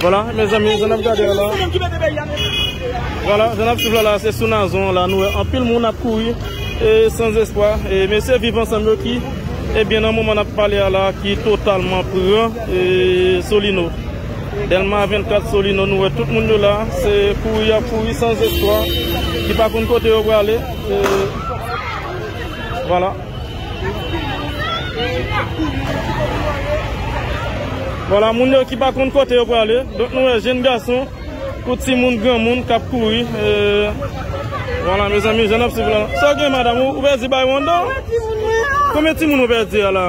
Voila mezanmi jan nap gade a la. Voila jan nap swiv la la se sou nazon an la nou wè anpil moun ap kouri e sans espwa e mesye viv ansanm yo ki ebyen nan moman nap pale a la ki totalman pran e solino delma 24 solino nou wè tout moun yo la se kouri yap kouri sans espwa ki pa konn kote yo prale e voila. Vwala moun yo ki pa konn kote yo prale. Donk nou wè jenn gason, kou ti moun, gran moun kap kouri. Vwala mezanmi, jan nap swiv la. Sa w gen madam, ou pèdi bay wanda? Konbyen ti moun ou pèdi a la?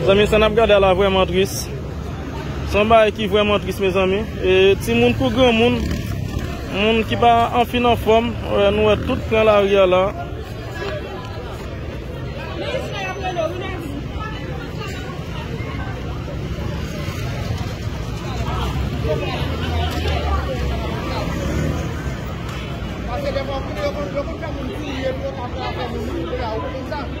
Mezanmi sa nap gade a la vreman tris Se yon bagay ki vreman tris mezanmi E ti moun kou gran moun Moun ki pa anfin anfom Nou wè tout pran la ri a la Mezanmi